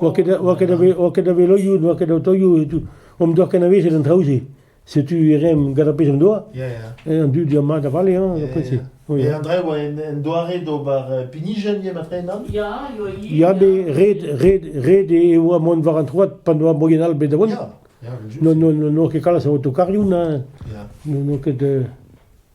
oa ket a veloioù, n'oa ket aotoioù e tout. Omp doa kenavezet an traoù-se. Setu e rem gant ar pezh en doa. An dud eo mat a vale, hein, après se. Et André, oa un doare d'ober pinijenn, eo ma trenan Ya, Ya, mais red, red, red e oa mont war an troad pa n'oa moien all bet da vont. Non, non, n'oa ket kalz a autokarioù, na. N'oa ket...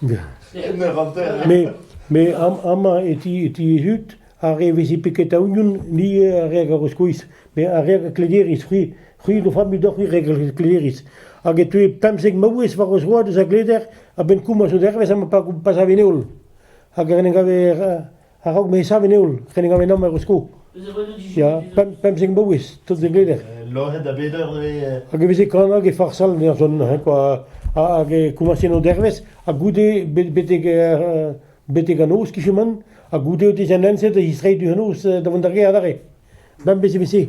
Me, me amañ e ti e ti hud ar re vezi peket a union, ni ar re a skoiz, me ar re a klederiz, c'hwi, c'hwi d'o familh deoc'h c'hwi re a klederiz. Hag e teu pemzek maouez war o zroad eus a gleder a-benn komañs o dervezh ha ma pa savent holl. Hag en em gave A-raok ma sav en heol, renet gav ennomp er Eusko. Ya, pemp, pemzek maouez, tout de bleder. Loc'het da beder eo. Hag e veze kanag e farsal ne arjon, hein, quoi. Hag e komasen o dervez, ha goude beteg, beteg an noz, kicheman, ha goude o dezen enset, e zistreiz du an noz da vont da ge adarre. Bem bez e vese.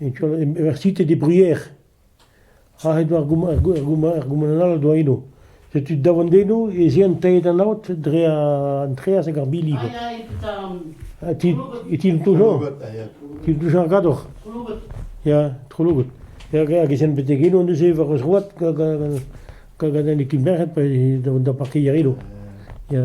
Université de Brière, aet eo ar goumant all doa eno. Setu davant-eno ez eo aet an aod dre an treaz hag ar bili. E ti Toujon, ti Toujon ar Gador. Ya, Trollogot. Hag ez ent betek eno neuze war eus road gant an ekin merc'hed pa da parkeier eno. Ya.